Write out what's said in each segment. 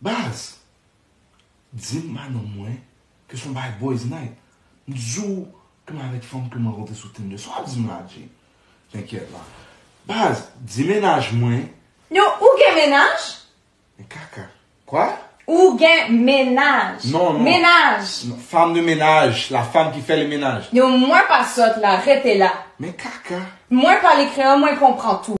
Baz! Dim ba nonm mwen ke son bagay boyz night. M t diw ke m avek fanm kem rankontre sou tinder. Sa wap dim la Jay? T'inquiète la. Baz! Di mennaj mwen. Yo, ou gen mennaj? Men kaka. Quoi? Ou gen mennaj. Non, non. Mennaj! Non, femme de ménage, la femme qui fait le ménage. Yo, mwen pa sòt la, rete la. Men kaka. Mwen pale kreyòl, mwen konpran tou.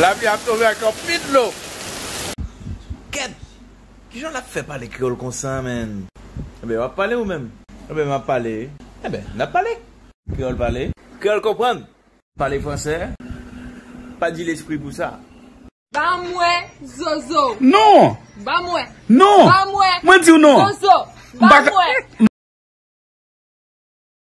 Lavi ap tonbe ak anpil dlo. Kèt! Kijan lap fè pale kreyòl konsa menn? Enben wap pale ou menm? Enben map pale. Enben nap pale. Kreyòl pale. Kreyòl konprann. Pale fransè. Pa di lespri pou sa. Banm wè zozo ou. Non! Banm wè. Non! Banm wè. Mwen diw non. Zozo. Banm wè.